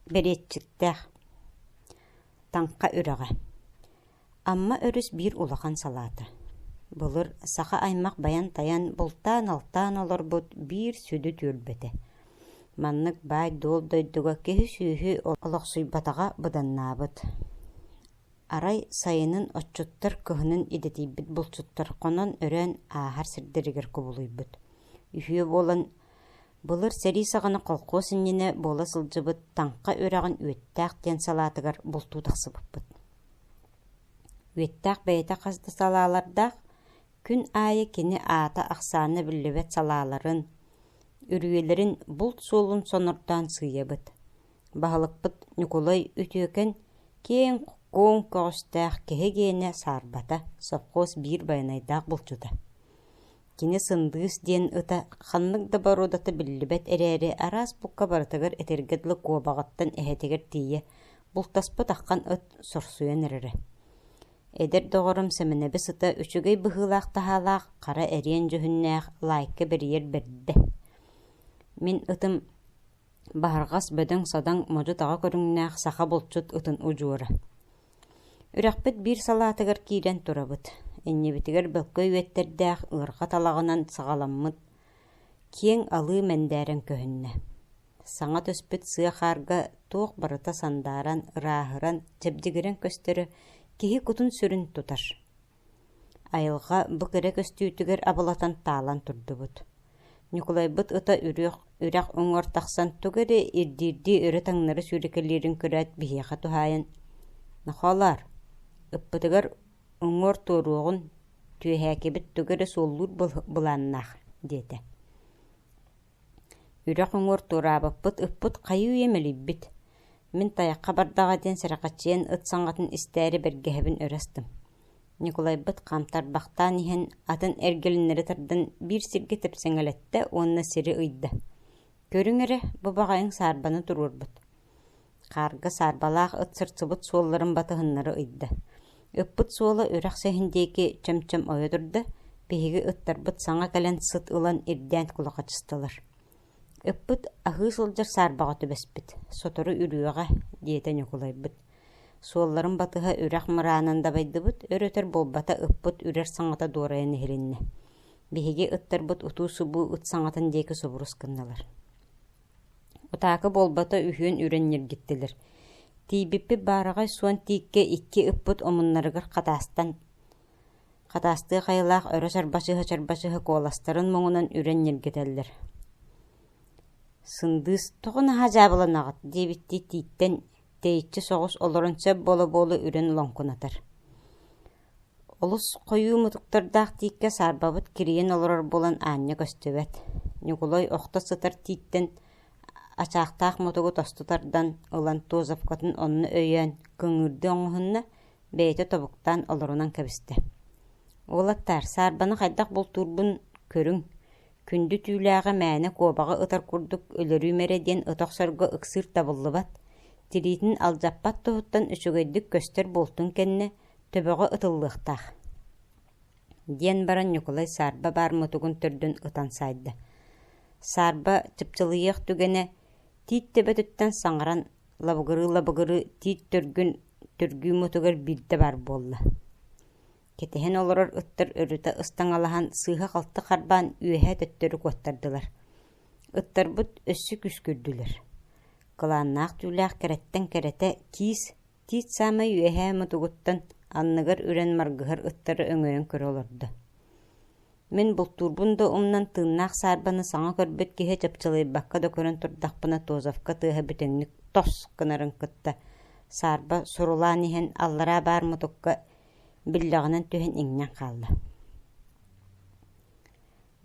Бэриэтчиктээх. Таҥха үрэҕэ. Амма өрүс биир улахан салаата. Былыр саха аймах байан-тайан, бултаан-алтаан олорбут биир сүдү түөлбэтэ. Маннык баай-дуол дойдуга киһи-сүөһү олохсуйбатаҕа быданнаабыт. Арай сайынын отчуттар кыһынын идэтийбит булчуттар хонон-өрөөн ааһар сирдэригэр кубулуйбут. Үһүө буолан Былыр сэрии саҕана колхоз иннинэ буола сылдьыбыт Таҥха үрэҕин Үөттээх диэн салаатыгар бултуу тахсыбыппыт. Үөттээх бэйэтэ хас да салаалардаах, күн аайы кини аата ахсаана биллибэт салааларын, үрүйэлэрин булт суолун сонордоон сыыйабыт. Баһылыкпыт Ньукулай үтүөкэн киэҥ куоҥ көҕүстээх киһи гиэнэ саарбата, совхоз биир байанайдаах булчута. Кини Сындыыс диэн ыта ханнык да боруодата биллибэт эрээри, араас букка барытыгар этэргэ дылы куобаҕыттан эһэтигэр тиийэ бултаспыт аххан ыт сорсуйан эрэрэ. Эдэр доҕорум Сэмэнэбис ыта үчүгэй быһыылаах-таһаалаах, хара эриэн дьүһүннээх, лаайка бэрийэр бэрдэ. Мин ытым Баһырҕас бөдөҥ-садаҥ модьу-таҕа көрүҥнээх саха булчут ытын удьуора. Үрэхпит биир салаатыгар киирэн турабыт, иннибитигэр бөлкөй үөттэрдээх ыарҕа талаҕынан саҕаламмыт киэҥ алыы мэндээрэн көһүннэ. Саҥа түспүт сыа хаарга туох барыта сандааран, ырааһыран, чэбдигирэн көстөрө киһи кутун-сүрүн тутар. Айылҕа бу кэрэ көстүүтүгэр абылатан таалан турдубут. Ньукулайбыт ыта үрүөх үрэх уҥуор тахсан тугу эрэ ирдиирдии өрө таҥнары сүүрэкэлиирин көрөөт биһиэхэ туһаайан «Нохоолоор, ыппытыгар уҥуор туоруоҕун, түөһээкибит тугу эрэ суоллуур былааннаах» диэтэ Үрэх уҥуор туораабыппыт, ыппыт хайыы-үйэ мэлийбит, мин тайахха бардаҕа диэн сэрэхэччийэн ыт саҥатын истээри бэргэһэбин өрө астым. Ньукулайбыт хам тарбахтаан иһэн, атын эргэлиннэри тардан биир сиргэ тэпсэҥэлэттэ уонна сири ыйда: «Көрүҥ эрэ, бу баҕайыҥ саарбаны туруорбут» хаарга саарбалаах ыт сырсыбыт суолларын батыһыннары ыйда. Ыппыт суола үрэхсэһин диэки чөм-чөм ойо турда, биһиги ыттарбыт саҥа кэлэн сыт ылан ирдээн кулахачыстылар. Ыппыт аһыы сылдьар саарбаҕа түбэспит, сотору үрүөҕэ, диэтэ Ньукулайбыт. Суолларын батыһа үрэх мыраанын дабайдыбыт, өр-өтөр буолбата ыппыт үрэр саҥата дуорайан иһилиннэ. Биһиги ыттарбыт утуу-субуу ыт саҥатын диэки субурус гыннылар Утаакы буолбата үһүөн үрэн ньиргиттилэр, тиийбиппит баараҕай суон тииккэ икки ыппыт омуннарыгар хатаастан, хатаастыы хайалаах өрө сарбасыһа-сарбасыһа куоластарын муҥунан үрэн ньиргитэллэр «Сындыыс, тоҕо наһаа дьаабыланаҕыт?» диэбиттии тииттэн тэйиччи соҕус олорон сөп буола-буола үрэн лоҥкунатар Олус хойуу мутуктардаах тииккэ саарбабыт кирийэн олорор буолан аанньа көстүбэт, Ньукулай охто сытар тииттэн ачаахтаах мутугу тосту тардан ылан Тозовкатын онно өйөөн көҥүүрдүү оҥоһунна, бэйэтэ тобуктаан олорунан кэбистэ. «Уолаттаар, саарбаны хайдах бултуурбун көрүҥ, күндү түүлээҕи мээнэ куобаҕы ытар курдук өлөрүүм эрэ» диэн ыта охсорго ыксыыр табыллыбат, тириитин алдьаппат туһуттан үчүгэйдик көстөр буолтун кэннэ, Төбөҕө ытыллыахтаах, диэн баран Ньукулай Саарба баар мутугун төрдүн ытан саайда. Саарба чыпчылыйыах түгэнэ тиит төбөтүттэн саҥаран лабыгырыы-лабыгырыы тиит төргүн түргүү мутугар биирдэ баар буолла. Кэтэһэн олорор ыттар өрүтэ ыстаҥалаһан сыыһа-халты харбаан үөһээ төттөрү куоттардылар. Ыттарбыт өссө күскүрдүлэр. Кылааннаах түүлээх кэрэттэн кэрэтэ киис Тиит саамай үөһээ мутугуттан анныгар үрэн маргыһар ыттары өҥөйөн көрө олордо мин бултуурбун да умнан тыыннаах саарбаны саҥа көрбүт киһи чапчылыйбакка да көрөн турдахпына Тозовка тыаһа бүтүннүк тос гынарын кытта саарба сурулаан иһэн аллараа баар мутукка биллэҕинэн түһэн иҥнэн хаалла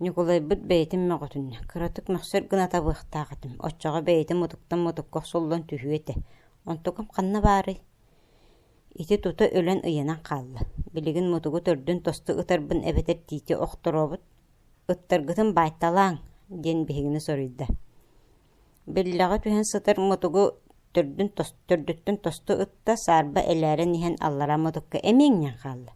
Ньукулайбыт бэйэтин мөҕүтүннэ, кыратык мөхсөр гына табыахтаах этим, оччоҕо бэйэтин мутуктан мутукка охсуллан түһүө этэ. Онтукум ханна баарый? Ити тута өлөн ыйанан хаалла. Билигин мутугу төрдүн тосту ытарбын эбэтэр тиити охторообут «Ыттаргытын баайталааҥ» диэн биһигини соруйда Биллэҕэ түһэн сытар мутугу төрдүттэн тосту ытта, саарба элээрэн иһэн аллара мутукка эмиэҥнээн хаалла.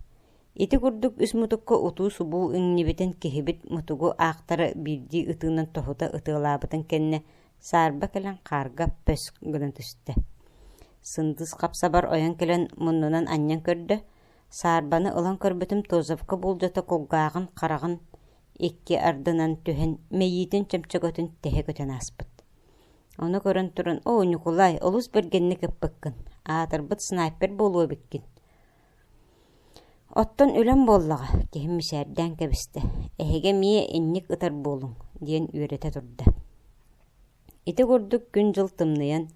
Ити курдук үс мутукка утуу-субуу иҥнибитин киһибит мутугу аахтара биирдии ытыынан тоһута ытыалаабытын кэннэ, саарба кэлэн хаарга пөск гынан түстэ. Сындыс хапсабар ойон кэлэн муннунан анньан көрдө, саарбаны ылан көрбүтүм Тозовка буулдьата кулгааҕын хараҕын икки ардынан түһэн мэйиитин чөмчөкөтүн тэһэ көтөн ааспыт. Ону көрөн туран «Оо, Ньукулай, олус бэргэнник ыппыккын, аатырбыт снайпер буолуо эбиккин». «Оттон үлэм буоллаҕа», – киһим мичээрдээн кэбистэ. «Эһиги эмиэ инник ытар буолуҥ», диэн үөрэтэ турда. Ити курдук күн-дьыл тымныйан,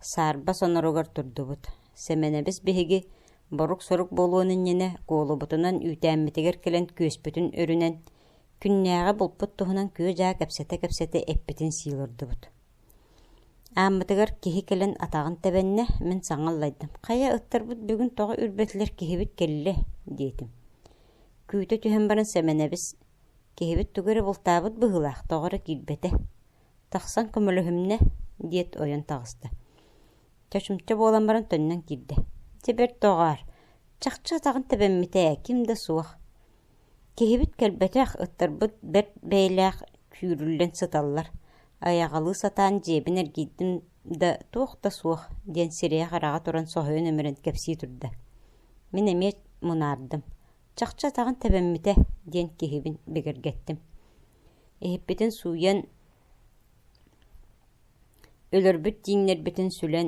саарба соноругар турдубут. Сэмэнэбис биһиги борук-сорук буолуон иннинэ куолубутунан үүтээммитигэр кэлэн күөспүтүн өрүнэн, күннээҕи булпут туһунан күө-дьаа кэпсэтэ-кэпсэтэ эппитин сии олордубут. Ааммытыгар киһи кэлэн атаҕын тэбэннэ, мин саҥа аллайдым. «Хайа, ыттарбыт бүгүн тоҕо үрбэтилэр киһибит кэллэ?» диэтим. Күүтэ түһэн баран Сэмэнэбис «Киһибит тугу эрэ бултаабыт быһыылаах, тоҕо эрэ киирбэтэ». Тахсан көмөлөһүмнэ, диэт ойон таҕыста. Чочумча буолан баран төннөн киирдэ. Дьэ бэрт доҕоор, чахчы атаҕын тэбэммитэ ээ, ким да суох. Киһибит кэлбэтэх, ыттарбыт бэрт бэйэлээх күүрүллэн сыталлар. Айаҕалыы сатаан дьиэбин эргийдим да туох да суох диэн сирэйэ-хараҕа туран соһуйан өмүрэн кэпсии турда. Мин эмиэ мунаардым. Чахчы атаҕын тэбэммитэ диэн киһибин бигэргэттим. Иһиппитин сууйан, өлөрбүт тииҥнэрбитин сүлэн,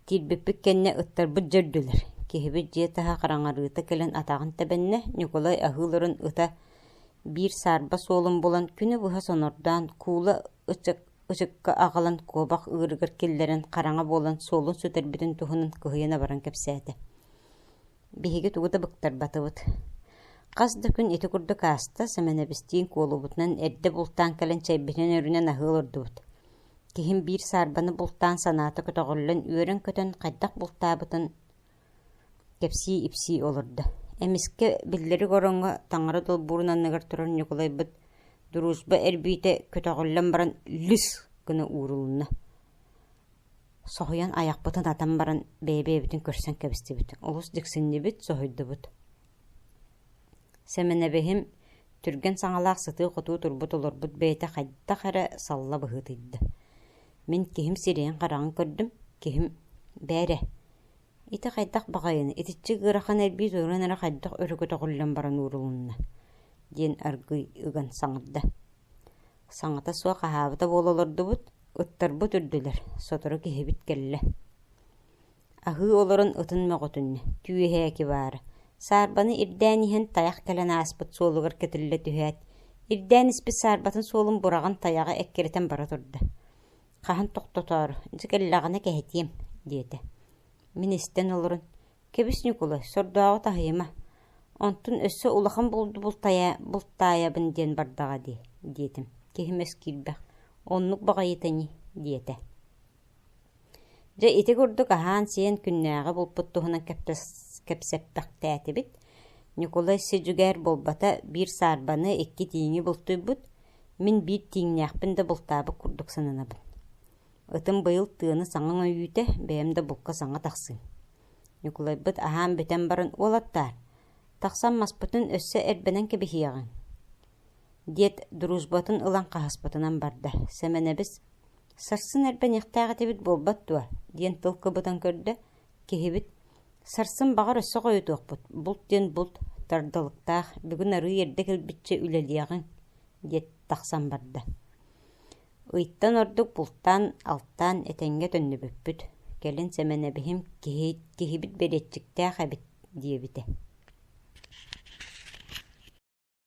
тиийбиппит кэннэ ыттарбыт дьэ үрдүлэр. Киһибит дьиэ таһа хараҥарыыта кэлэн атаҕын тэбэннэ, Ньукулай аһыы олорон ыта биир саарба суолун булан, күнү быһа сонордоон, куула ычыкка аҕалан куобах ыырыгар киллэрэн хараҥа буолан суолун сүтэрбитин туһунан кыһыйан абаран кэпсээтэ Биһиги тугу да быктарбатыбыт. Хас да күн ити курдук ааста, Сэмэнэбистиин куолубутунан эрдэ бултаан кэлэн чэйбитинэн өрүнэн аһыы олордубут. Киһим биир саарбаны бултаан санаата көтөҕүллэн үөрэн-көтөн хайдах бултаабытын кэпсии-ипсии олордо. Эмискэ биллэрик ороҥҥо таҥара долбуурун анныгар турар Ньукулайбыт дружба эрбиитэ көтөҕүллэн баран лүс гына уурулунна. Соһуйан айахпытын атан баран бэйэ-бэйэбитин көрсөн кэбистибит, олус дьиксиннибит, соһуйдубут. Сэмэнэбиһим түргэн саҥалаах сытыы-хотуу турбут олорбут бэйэтэ хайдах эрэ салла быһыытыйда. Мин киһим сирэйин-хараҕын көрдүм, киһим «Бээрэ, ити хайдах баҕайыны, итиччэ ыарахан эрбии туруоран эрэ хайдах өрө көтөҕүллэн баран уурулунна?» диэн аргыый ыган саҥарда. Саҥата суох аһаабыта буола олордубут, ыттарбыт үрдүлэр, сотору киһибит кэллэ. Аһыы олорон ытын мөҕүтүннэ, түөһээки баара, саарбаны ирдээн иһэн тайах кэлэн ааспыт суолугар кэтиллэ түһээт, ирдээн испит саарбатын суолун бураҕын тайаҕа эккирэтэн бара турда. Хаһан тохтотоору, дьэ кэллэҕинэ кэһэтиэм, диэтэ. Мин истэн олорон, Кэбис, Ньукулай, сордооҕу таһыйыма, онтун өссө улахан бултайа бултаайабын диэн бардаҕа дии, диэтим. Киһим эскиирбэх, «Оннук баҕайыта ини» диэтэ. Дьэ, ити курдук аһаан-сиэн күннээҕи булпут туһунан кэпсэппэхтээтибит. Ньукулай сидьүгээр буолбата биир саарбаны, икки тииҥи бултуйбут. Мин биир тииҥнээхпин да бултаабыт курдук сананабын. Ытым быйыл тыаны саҥаҥ өйүүтэ, бэйэм да букка саҥа тахсыым. Ньукулайбыт аһаан-бүтэн баран «Уолаттаар, тахсан маспытын өссө эрбэнэн кэбиһиэҕиҥ» диэт дружбатын ылан хаһыспытынан барда. Сэмэнэбис «Сарсын эрбэниэхтээх этибит буолбат дуо?» диэн тыл кыбытан көрдө, киһибит «Сарсын баҕар өссө хойутуохпут, булт диэн булт, тардылыктаах, бүгүн арыый эрдэ кэлбиччэ үлэлиэҕиҥ» диэт тахсан барда. Ыйтан ордук бултаан, алтаан, этэҥҥэ төннүбүппүт, кэлин Сэмэнэбиһим киһи киһибит бэриэтчиктээх эбит диэбитэ